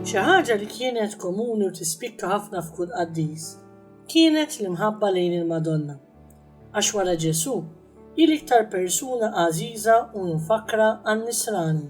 Xi ħaġa li kienet komuni u tispikka ħafna f'kull qaddis kienet l-imħabba lejn il-Madonna. Għax wara Ġesù, hi l-iktar persuna għażiża u mfakkra għan-Nisrani.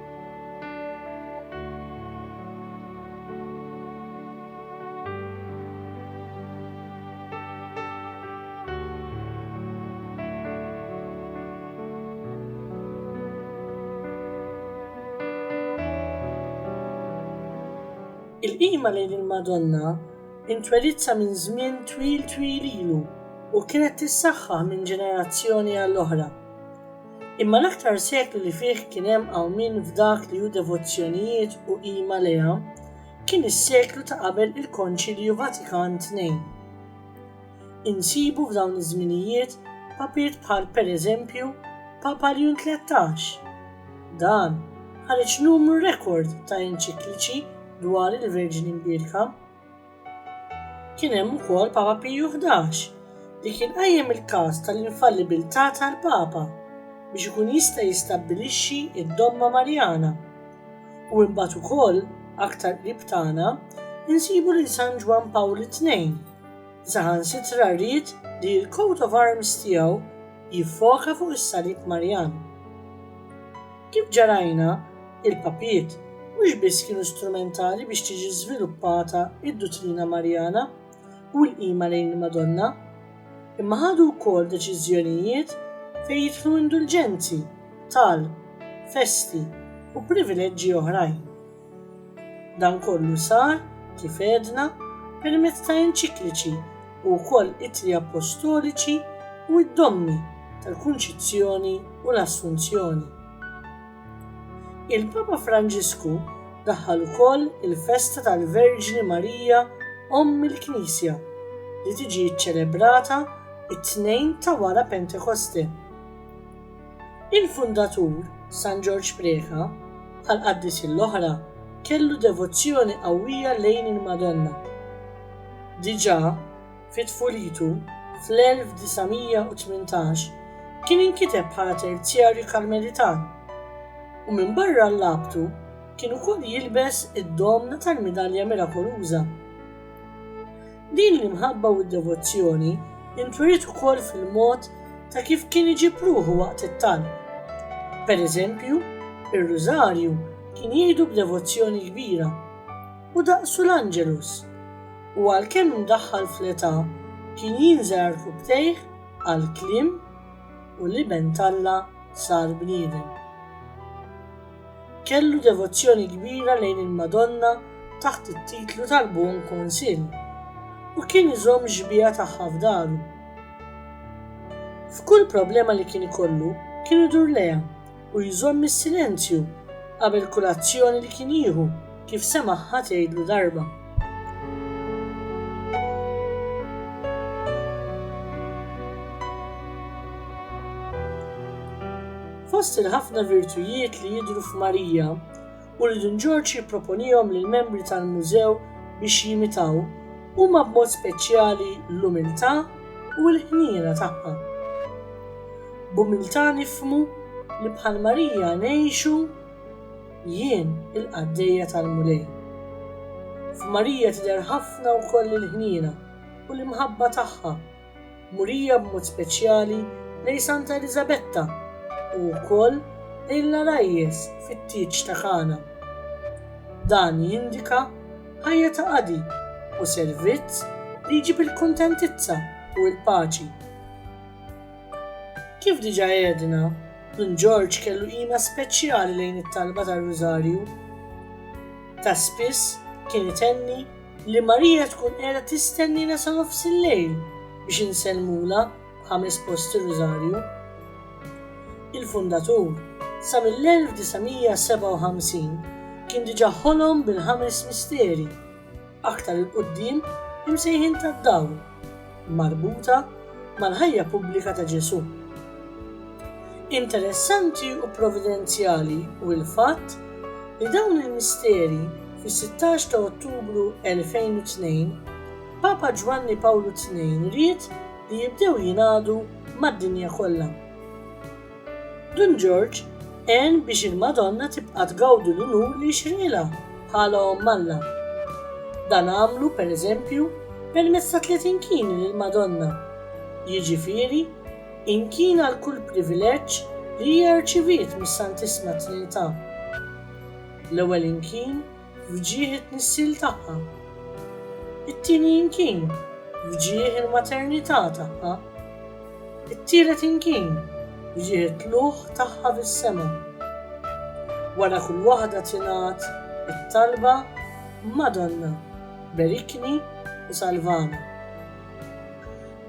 Il-qima lejn il-Madonna intwelidsa minn żmien twil twil ilu u kienet tissaħħaħ minn ġenerazzjoni għall-oħra. Imma l-aktar seklu li fih kien hemm qawmien f'dak li hu devozzjonijiet u qima lejha kien is-seklu ta' qabel il-Konċilju Vatikan Tnejn. Insibu f'dawn iż-żminijiet papiet bħal pereżempju Papa Ljun Tlettax. Dan ħareġ numru rekord ta' enċikliċi dwar il-Verġni Mbierka. Kien hemm ukoll Papa Piju Ħdax li kien qajjem il-każ tal-infallibilità tal-Papa biex ikun jista' jistabbilixxi d-Domma Marjana. U imbagħad ukoll, aktar qrib tagħna, insibu lil San Ġwann Pawl it-Tnejn, li saħansitra ried li l-coat of arms tiegħu jiffoka fuq is-Salib Marjan. Kif ġa rajna, il-papijiet mhux biss kienu strumentali biex tiġi żviluppata d-duttrina Marjana u l-qima lejn il-Madonna, imma ħadu wkoll deċiżjonijiet fejn jidħlu indulġenzi, talb, festi, u privileġġi oħrajn. Dan kollu sar, kif għedna, permezz ta' enċikliċi u wkoll ittri appostoliċi u d-dommi tal-Kunċizzjoni u l-Assunzjoni. Il-Papa Franġisku daħħal ukoll il-festa tal-Verġni Marija Omm il-Knisja li tiġi ċċelebrata t-Tnejn ta' wara Pentekoste. Il-fundatur, San Ġorġ Preca, bħall-qaddisin l-oħra, kellu devozzjoni qawwija lejn il-Madonna. Diġà fi tfulitu, fl-1918, kien inkiteb bħala terzjarju Karmelitan, u minbarra l-abtu kien ukoll jilbes id-domna tal-midalja mirakoluża. Din l-imħabba u d-devozzjoni ntweriet ukoll fil-mod ta' kif kien iġib ruħu waqt it-talb. Per eżempju, ir-Rużarju kien jgħidu b'devozzjoni kbira, u daqsu l-Angelus, u għalkemm imdaħħal fl-età kien jinżel għal rkubbtejh għall-kliem u l-Iben t'Alla sar bniedem. Kellu devozzjoni kbira lejn il-Madonna taħt it-titlu tal-Buon Consiglio u kien iżomm xbieha tagħha f'daru. F'kull problema li kien ikollu kien idur lejha u jżomm is-silenzju qabel kull azzjoni li kien jieħu kif semagħha tgħidlu darba. Fost il-ħafna virtujiet li jidhru f'Marija u li Dun Ġorġ jipproponihom lill-membri tal-Mużew biex jimitaw huma b'mod speċjali l-umiltà u l-ħniena tagħha. B'umiltà nifhmu li bħal Marija ngħixu Jien il-qaddejja tal-Mulej. F'Marija tidher ħafna wkoll il-ħniena u l-imħabba tagħha murija b'mod speċjali lejn Santa Eliżabetta u wkoll lejn l-għarajjes fit-tieġ ta' Kana. Dan jindika ħajja ta' qadi u servizz li jġib il-kuntentizza u l-paċi. Kif diġà għedna, Dun Ġorġ kellu qima speċjali lejn it-talba tar-Rużarju. Ta' spiss kien itenni li Marija tkun qiegħda tistenniena sa nofsillejl biex insellmulha b'ħames post ir-Rużarju. Il-Fundatur, sa mill-1957, kien diġà ħolom bil-ħames misteri, aktar 'il quddiem imsejħin tad-dawl, marbuta mal-ħajja pubblika ta' Ġesù. Interessanti u providenzjali hu l-fatt li dawn il-misteri fis-16 ta' Ottubru 2002 Papa Ġwanni Pawlu ii ried li jibdew jingħadu mad-dinja kollha. Dun Ġorġ għen biex il-Madonna tibqa' tgawdi l-unur li jixrqilha bħala Omm Alla. Dan għamlu, per eżempju, permezz ta' tliet inkini lill-Madonna, jiġifieri, inkien għal kull privileġġ li hija rċiviet mis-Santissima Trinità. L-ewwel inkien f'ġieħ it-tnissil tagħha. It-tieni inkin f'ġieħ il-maternità tagħha. It-tielet inkin f'ġieħ it-tlugħ tagħha fis-sema. Wara kull waħda tingħad it-talba, Madonna, berikni u salvani.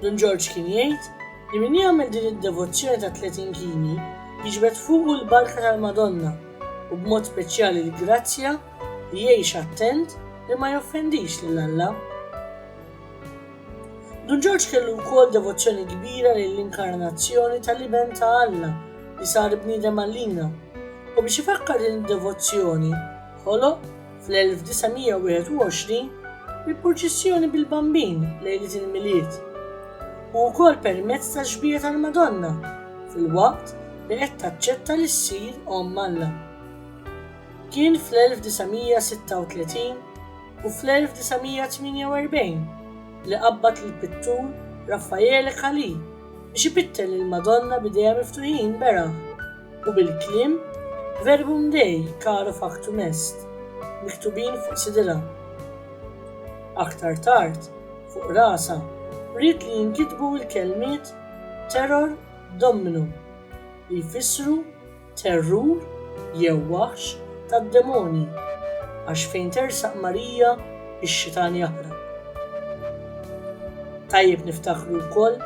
Dun Ġorġ kien jgħid li min jagħmel din id-devozzjoni tat-tliet inkini jiġbed fuqu l-barka tal-Madonna u b'mod speċjali l-grazzja li jgħix attent li ma joffendix lil Alla. Dun Ġorġ kellu wkoll devozzjoni kbira lill-inkarnazzjoni tal-Iben ta' Alla li sar bniedem għalina u biex ifakkar din id-devozzjoni ħoloq fl-1921, il-purċissjoni bil-Bambin lejliet il-Milied, u wkoll permezz tax-xbieha tal-Madonna filwaqt li qed taċċetta li ssir Omm Alla. Kien fl-1936 u fl-1948 li qabbad lill-pittur Raffaele Calì biex ipittel lill-Madonna b'idejha miftuħin beraħ. u bil-kliem Verbum Dei caro factum est miktubin fuq sidirha. Aktar tard, fuq rasha, ried li jinkitbu l-kelmiet Terror Dominum, li jfissru Terrur jew Waħx tad-Demonji, għax fejn tersaq Marija x-xitan jaħrab. Tajjeb niftakru wkoll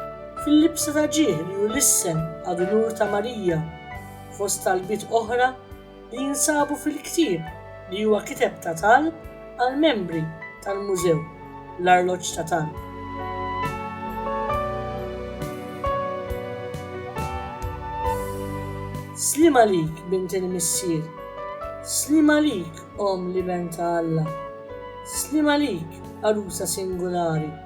Fil-libsa ta' ġieħ li hu l-issem għad-dnur ta' Marija, fost talbiet oħra li jinsabu fil-ktieb li huwa kiteb ta' talb għall-membri tal-Mużew, l-arloġġ ta' talb. Sliem għalik, bint il-Missier. Sliem għalik, Omm l-Iben ta' Alla. Sliem għalik, għarusa singulari.